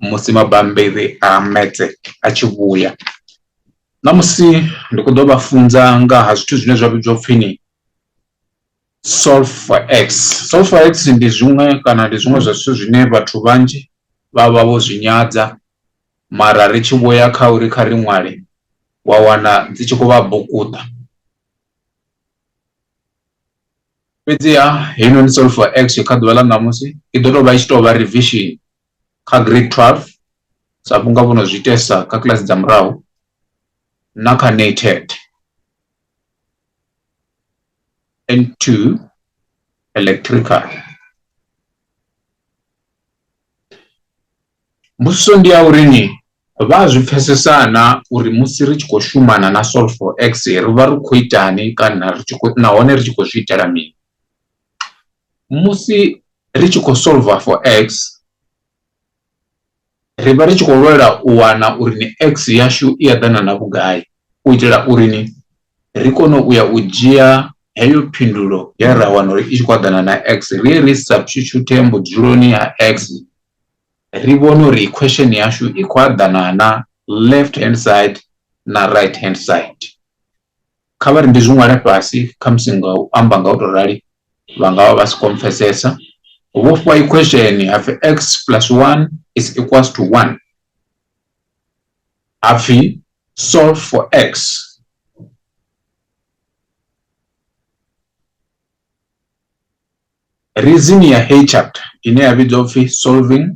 musi mabambiri a metse a tshi vhuya ṋamusi ndi kho ḓo vha funza nga ha zwithu zwine zwa vhidzwa upfhi ni sulfur x sulfur x ndi zwiṅwe kana ndi zwiṅwe zwa zwithu zwine vhathu vhanzhi vha vha vho zwi nyadza mara ri tshi vhuya kha uri kha ri ṅwale wa wana dzi tshi khou vha bukuṱa fhedziha heinoni sulfur x kha ḓuvha ḽa ṋamusi i ḓo tou vha i tshi tou vha revision kha grade 12 sa vhunga vho no zwi itesa kha kiḽasi dza murahu na kha nated and to electrical mbudziso ndi ya uri ni vha a zwi pfesesana uri musi ri tshi khou shumana na solve for x ri vha ri khou itani kana ri tshi khou nahone ri tshi khou zwi itela mini musi ri tshi khou solver for x ri vha ri tshi khou lwela u wana uri ni x yashu i eḓana na vhugai u itela uri ni ri kone u ya u dzhia heyo phindulo ye ra wana uri i tshi khou eḓana na x ri ye ri substitute mbudzuloni ya x ri vhone uri equation yashu i khou eḓana na left hand side na right hand side kha vha ri ndi zwi ṅwale fhasi kha musi nga u amba nga u tou rali vha nga vha vha si khou mpfesesa vho fhiwa equation hapfi x plus 1 is equals to 1 hapfi solve for x reason ya heyi chapter ine ya vhidzwa upfhi solving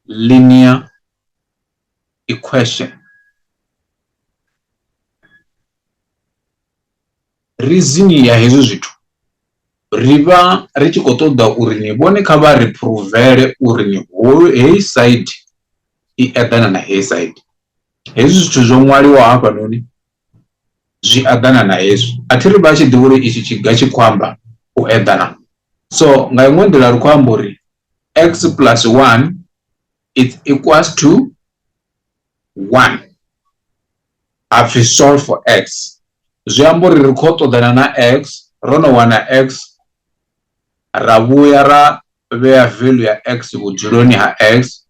linear equation reason ya hezwi zwithu ri vha ri tshi khou ṱoḓa uri ni vhone kha vha ri provele uri ni holu heyi side i eḓana na heyi side hezwi zwithu zwo ṅwaliwa hafhanoni zwi eḓana na hezwi a thi ri vha tshi ḓivha uri itshi tshiga tshi khou amba u eḓana so nga iṅwe nḓila ri khou amba uri x plus 1 it equals to 1 ha pfi solve for x zwi amba uri ri khou ṱoḓana na x ro no wana x ra vhuya ra vhea value ya x vhudzuloni ha x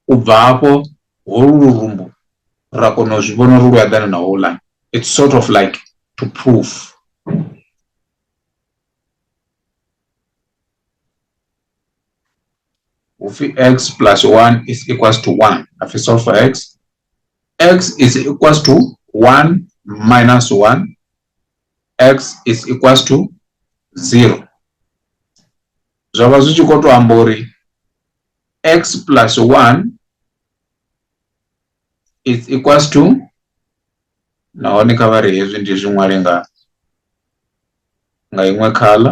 u bva hafho holu lurumbu ra kona u zwi vhona uri lu eḓana na houḽani it's sort of like to prove وفي x plus 1 is equals to 1 if you solve for x x is equals to 1 minus 1 x is equals to 0 zwa vha zwi tshi khou tou amba uri x plus 1 is equals to nahone kha vha ri hezwi ndi zwi ṅwale nga nga iṅwe khala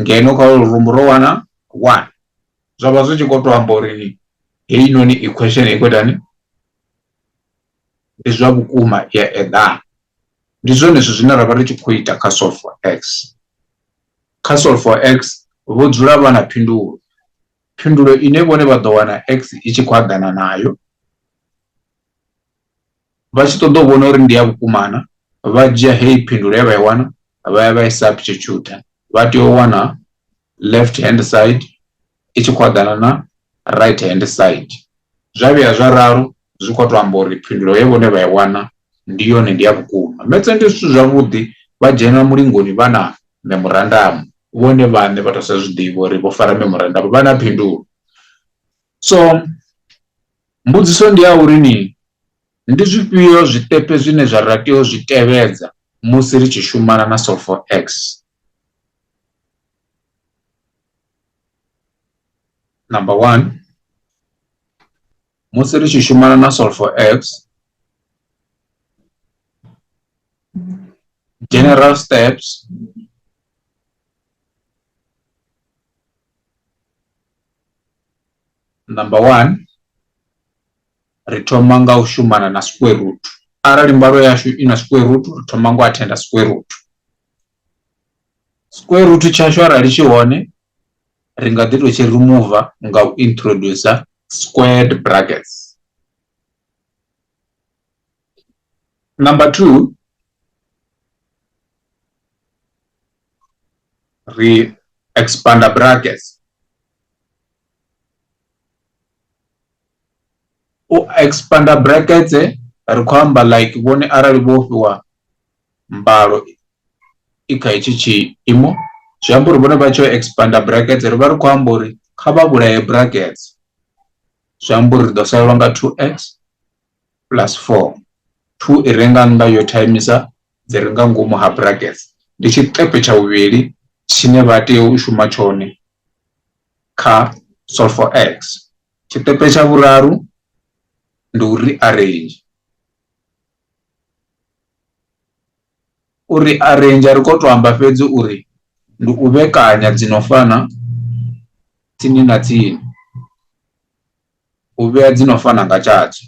ngeno kha ulu rumbo ro wana one zwa vha zwi tshi khou tou amba uri heinoni equation i khou itani ndi zwa vhukuma ya eḓana ndi zwone zwithu zwine ra vha ri tshi khou ita kha solve for x kha solve for x vho dzula vha na phindulo phindulo ine vhone vha ḓo wana x i tshi khou aḓana nayo vha tshi ṱoḓa u vhona uri ndi ya vhukuma na vha dzhia heyi phindulo ye vha i wana vha ya vha i substitute vha tea u wana left hand side i tshi khou eḓana na right hand side zwa vhuya zwa ralo zwi khou tou amba uri phindulo ye vhone vha i wana ndi yone ndi ya vhukuma metse ndi zwithu zwavhuḓi vha dzhena mulingoni vha na memorandamu vhone vhaṋe vha tou sa zwi ḓivha uri vho fara memorandamu vha na phindulo So mbudziso ndi ya uri ni ndi zwifhio zwiṱepe zwine zwa ra tea u zwi tevhedza musi ri tshi shumana na Solfor X number 1 musi ri tshi shumana na Solfor X general steps Number one, ri thoma nga u shumana na square root. Arali mbalo yashu i na square root, ri thoma nga u attenda square root. Square root tshashu arali tshi hone, ri nga ḓi tou tshi remover nga u introducer squared brackets. Number two, ri expander brackets u expander brackets ri khou amba like vhone arali vho fhiwa mbalo i kha hetshi tshiimo zwi amba uri vhone vha tshi expander brackets ri vha ri khou amba uri kha vha vhulaye brackets zwi amba uri ri ḓo salelwa nga 2x plus 4 2 i renga nnḓa yo timisa dzi re nga ngomu ha brackets ndi tshiṱepe tsha vhuvhili tshine vha tea u shuma tshone kha solve for x tshiṱepe tsha vhuraru ndi u rearrange u rearrange ri khou tou amba fhedzi uri ndi u vhekanya dzi no fana tsini na tsini u vhea dzi no fana nga tshatsho.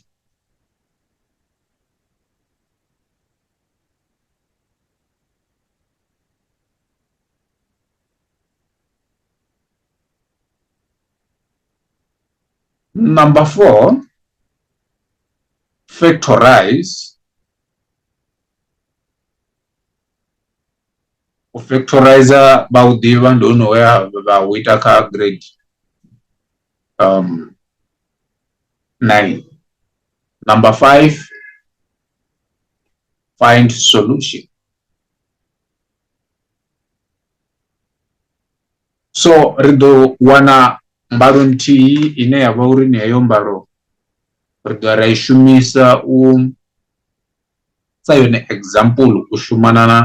Number four, factorize. U factorizer vha u ḓivha ndi hone we vha u ita kha grade um, nine. Number five, find solution. So ri ḓo wana mbalo nthihi ine ya vha uri ni heyo mbalo ri ḓo ra i shumisa u sa yone example u shumana na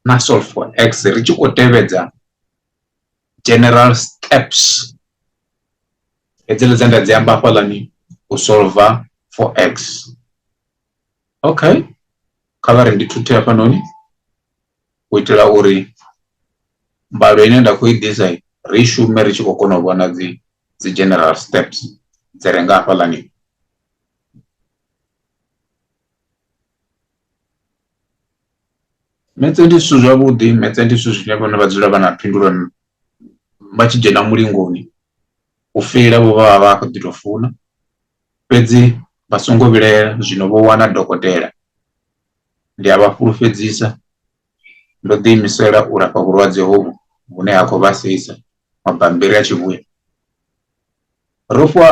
na solve for x ri tshi khou tevhedza general steps hedzile dze nda dzi amba hafhaḽani u solver for x okay kha vha ri ndi thuthe hafhanoni u itela uri mbalo ine nda khou i ḓisa ri shume ri tshi khou kona u vhona dzi dzi general steps dzi re nga hafhaḽani Metse ndi zwithu zwavhuḓi metse ndi zwithu zwine vhone vha dzula vha na phindulo vha tshi dzhena mulingoni u feila vho vha vha vha kho ḓi to funa fhedzi vha songo vhilahela zwino vho wana dokotela ndi a vha fhulufhedzisa ndo ḓi imisela u lafha vhulwadze hovhu vhune ha khou vhasisa mabambiri a tshi vhuya ro fhiwa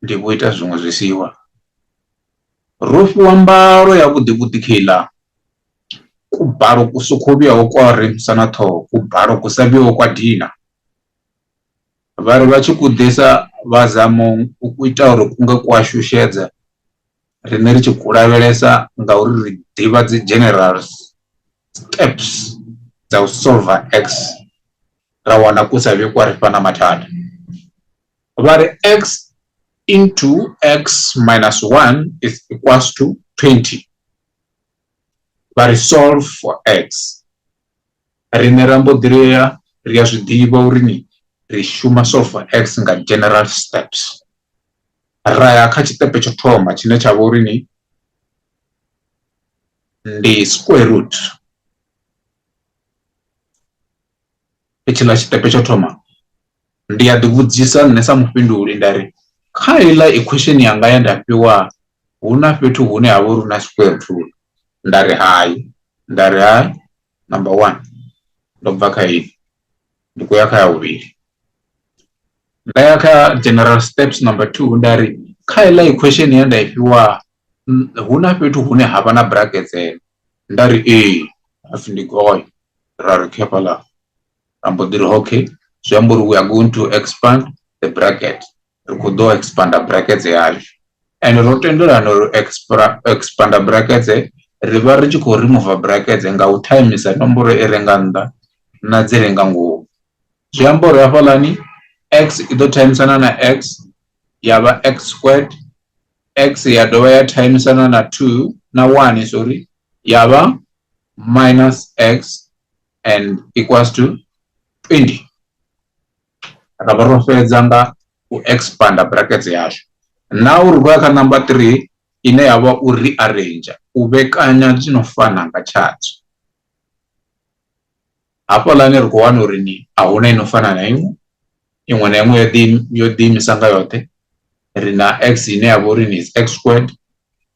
ndi vho ita zwiṅwe zwisiwa ro fhiwa mbalo ya vhuḓi vhuḓi kheiḽa kubalo ku sokho vhuyaho kwa ri musa na ṱhoho kubalo ku sa vhuyaho kwa dina vha ri vha tshi ku ḓisa vha zamo u ku ita uri ku nga ku a shushedza riṋe ri tshi ku lavhelesa ngauri ri ḓivha dzi general steps dza u solver x ra wana ku sa vhe kwa ri fha na mathada vha ri x into x minus 1 is equals to 20 vha ri solve for x riṋe ra mbo ḓi ri a ri a zwi ḓivha uri ni ri shuma solve for x nga general steps ra ya kha tshiṱepe tsho thoma tshine tsha vha uri ni ndi square root i tshiḽa tshiṱepe tsho thoma ndi a ḓi vhudzisa nṋe sa mufhinduli nda ri kha iḽa equation yanga ya nda fhiwa hu na fhethu hune ha vha uri na square root rule nda ri hai nda ri hai number one ndo bva kha ini ndi khou ya kha ya vhuvhili nda ya kha general steps number two nda ri kha iḽa equation ya nda i fhiwa hu na fhethu hune ha vha na brackets nda ri ee hapfhi ndi goi ra ri okay hafhaḽa ra mbo ḓi ri okay zwi amba uri we are going to expand the bracket ri khou ḓo expander brackets yashu and ro tendelana uri expander brackets ri vha ri tshi khou remove brackets nga u timisa nomboro i re nga nnḓa na dzi re nga ngomu zwi amba uri hafhaḽani x i ḓo timisana na x ya vha x squared x ya dovha ya thaimisana na 2 na 1 sorry ya vha minus x and equals to 20 ra vha ro fhedza nga u expanda brackets yashu na uri vha kha number 3 ine ya vha u rearrange u vhekanya zwino fana nga tshadzo hafhaḽani ri khou wana uri ni a hu na i no fana na iṅwe iṅwe na iṅwe yo ḓiimisa nga yoṱhe ri na x ine ya vha uri ni x squared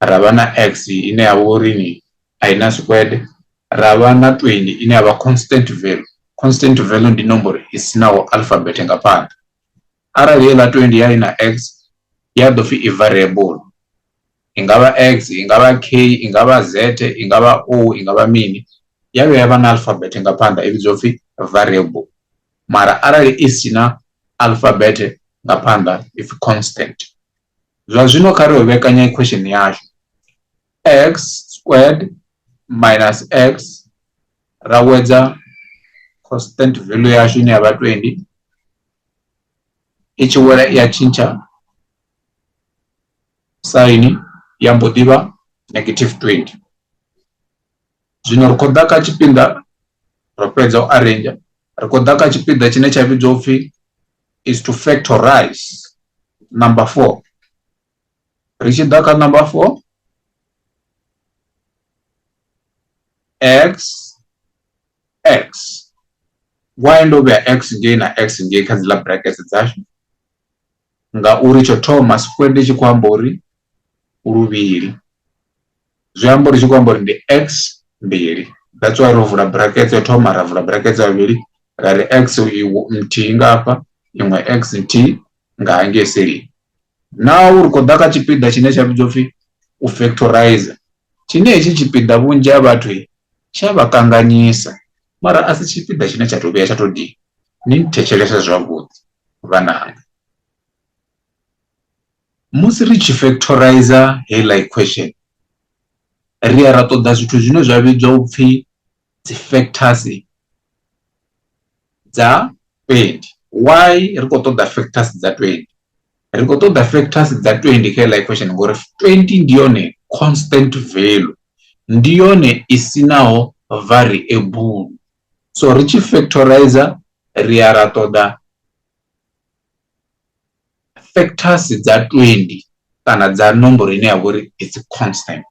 ra vha na x ine ya vha uri ni a i na squared ra vha na 20 ine ya vha constant value constant value ndi nomboro i sinaho alphabet nga phanḓa Arali heiḽa 20 ya i na x ya ḓo pfhi i variable i nga vha x i nga vha k i nga vha z i nga vha o i nga vha mini ya vhuya ya vha na alphabet nga phanḓa i vhidzwa upfhi variable mara arali i si na alphabet nga phanḓa ipfhi constant zwa zwino kha ri vhekanya equation yashu x squared minus x ra wedza constant value yashu ine ya vha 20 i tshi wela i a tshintsha saini ya mbo ḓi vha negative 20 zwino ri khou ḓa kha tshipiḓa ro fhedza u arrange ri khou ḓa kha tshipiḓa tshine tsha vhidzwa upfhi is to factorize number 4 ri tshi ḓa kha number 4 x x why ndo vhea x ngei na x ngei kha dzi ḽa brackets dzashu ngauri tsho thoma square ndi tshi khou amba uri luvhili zwi amba uri tshi khou amba uri ndi x mbili that's why ro vula brackets yo thoma ra vula brackets ya vhili ra ri x nthihi nga hafha iṅwe x nthihi nga hangei selini Naa u ri khou ḓa kha tshipiḓa tshine tsha vhidzwa upfi u factorizer tshine hetshi tshipiḓa vhunzhi ha vhathu tsha vha kanganyisa mara a si tshipiḓa tshine tsha to vhuya tsha to dina ni thetshelese zwavhuḓi vhananga musi ri tshi factorizer heiḽa equation ri ya ra ṱoḓa zwithu zwine zwa vhidzwa upfi dzi factors dza 20 why ri khou ṱoḓa factors dza 20 ri khou ṱoḓa factors dza 20 kha life equation ngori 20 ndi yone constant value ndi yone i si naho variable so ri tshi factorize ri ya ra ṱoḓa factors dza 20 kana dza nomboro ine ya vha uri it's constant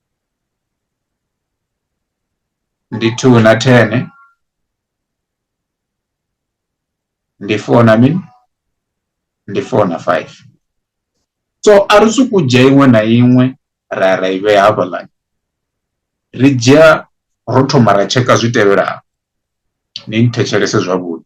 ndi two na ten ndi four na mini ndi four na five so a ri swi ku dzhia iṅwe na iṅwe ra ya ra i vhea hafhaḽani ri dzhia ro thoma ra tsheka zwi tevhelaho ni nthetshelese zwavhuḓi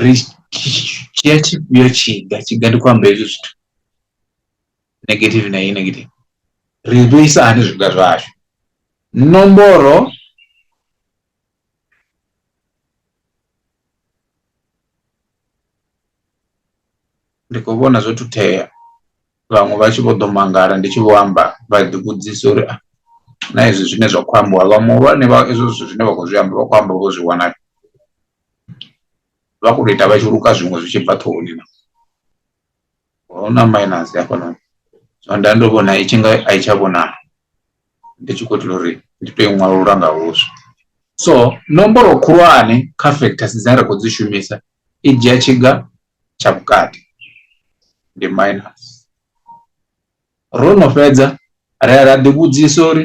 ri dzhia tshifhio tshiga tshiga ndi khou amba hezwi zwithu negative na iyi negative ri vhuisa hani zwiga zwashu nomboro ndi khou vhona zwo thuthea vhaṅwe vha tshi vho ḓo mangala ndi tshi vho amba vha ḓi vhudzisa uri ah, na hezwi zwine zwa khou ambiwa vha muhulwane vha ezwo zwithu zwine vha khou zwi amba vha khou amba vho zwi wana vha khou tou ita vha tshi luka zwiṅwe zwi tshi bva ṱhohoni na hu na minus hafhanoni so nda ndo vhona i tshi nga a i tsha vhonala ndi tshi khou itela uri ndi tou i ṅwalula nga huswa so nomboro khulwane kha factors dzine ra khou dzi shumisa i dzhia tshiga tsha vhukati ndi minus Ro no fhedza, ra ya ra ḓivhudzisa uri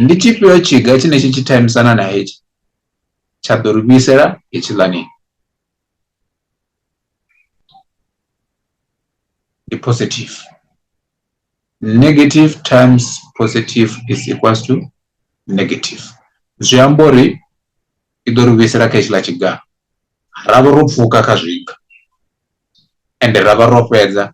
ndi tshifhio tshiga tshine tshi tshi thaimisana na hetshi tsha ḓo ri vhuisela hetshiḽani. Ndi positive. Negative times positive is equals to negative. Zwi amba uri i ḓo ri vhuisela kha hetshiḽa tshiga. Ra vha ro pfuka kha zwiga ende ra vha ro fhedza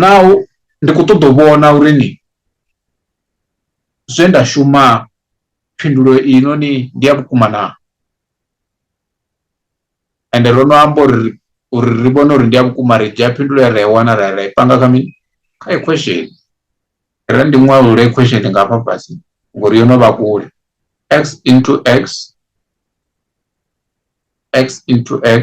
naho ndi khou ṱoḓa u vhona uri ni zwe nda shuma phindulo i no ni ndi ya vhukuma na ende ro no amba uri uri ri vhone uri ndi ya vhukuma ri dzhia phindulo ya ra i wana ra ra i panga kha mini kha equation ra ndi ṅwalule equation nga hafha fhasi ngori yo no vha kule x into x x into x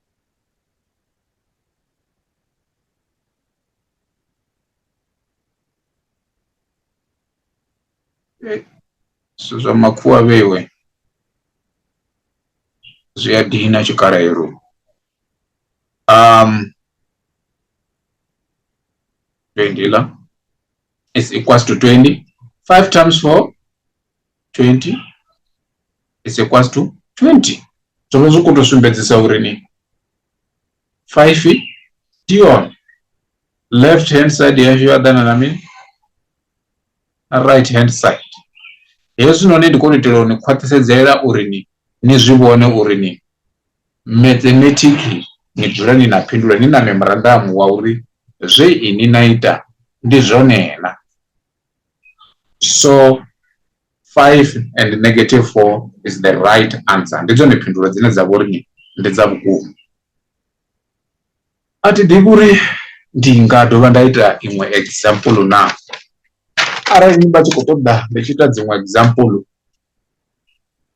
Eh, zwithu zwa makhuwa vhewe zwi a dina tshikalelo um twenty la is equals to twenty five times four 20 is equals to 20 zwo vha zwi khou tou sumbedzisa uri ni 5 ndi yone left hand side yashu yo aḓana na mini na right hand side hezwinoni ndi kone u itela u ni khwaṱhisedzela uri ni ni zwi vhone uri ni mathematiki ni dzula ni na phindula ni na memorandamu wa uri zwe ini na ita ndi zwone na so 5 and negative 4 is the right answer ndi dzone phindulo dzine dza vhori ni ndi dza vhukuma a thi ḓivhi uri ndi nga dovha nda ita iṅwe example na arali ni vha tshi khou ṱoḓa ndi tshi ita dziṅwe example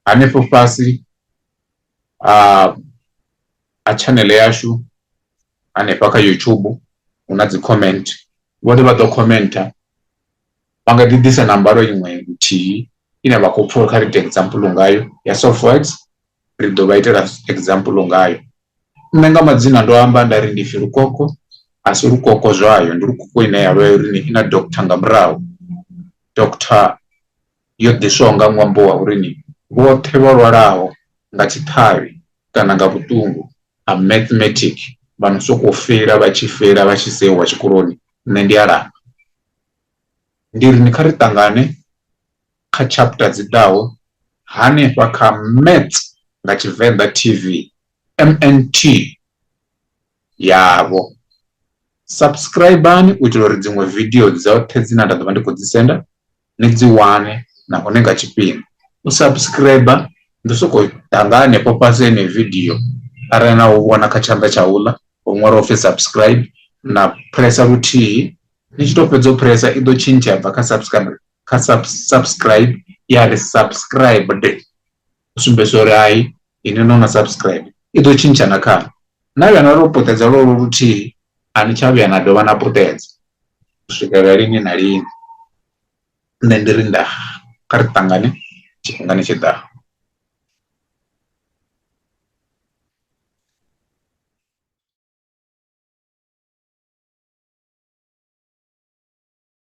hanefho fhasi a a channel yashu hanefha kha YouTube hu na dzi comment vhone vha ḓo commenta vha nga ḓi ḓisa na mbalo iṅwe nthihi ine vha khou pfha kha ri ite example ngayo ya softworks ri ḓo vha itela example ngayo nṋe nga madzina ndo amba nda ri ndi pfi lukoko a si lukoko zwayo ndi lukoko ine ya vha uri i na doctor nga murahu doctor yo ḓiswaho nga ṅwambo wa uri ni vhoṱhe vha lwalaho nga tshiṱhavhi kana nga vhuṱungu ha mathematic vha no sokou fela vha tshi fela vha tshi sewa tshikoloni nṋe ndi a lafha ndi ri ni kha ri ṱangane kha chapter dzi ḓaho hanefha kha maths nga tshivenḓa tv mnt yavho subscribani u itela uri dziṅwe video dzoṱhe dzine nda ḓo vha ndi khou dzi senda ni dzi wane nahone nga tshifhinga u subscribe ndi soko ḓa nga hanefho fhasi ene video arali na u vhona kha tshanḓa tsha uḽa ho ṅwalwa upfhi subscribe na pressa luthihi ni tshi to fhedza u pressa i ḓo tshintsha bva kha subscribe kha subscribe ya ri subscribed tsumbedzo uri hai ini no na subscribe i ḓo tshintsha na khana na vhuya na ro puṱedza lwo luthihi a ni tsha vhuya na dovha na puṱedza u swikela lini na lini nṋe ndi ri nda kha ri ṱangane tshifhingani tshi ḓaho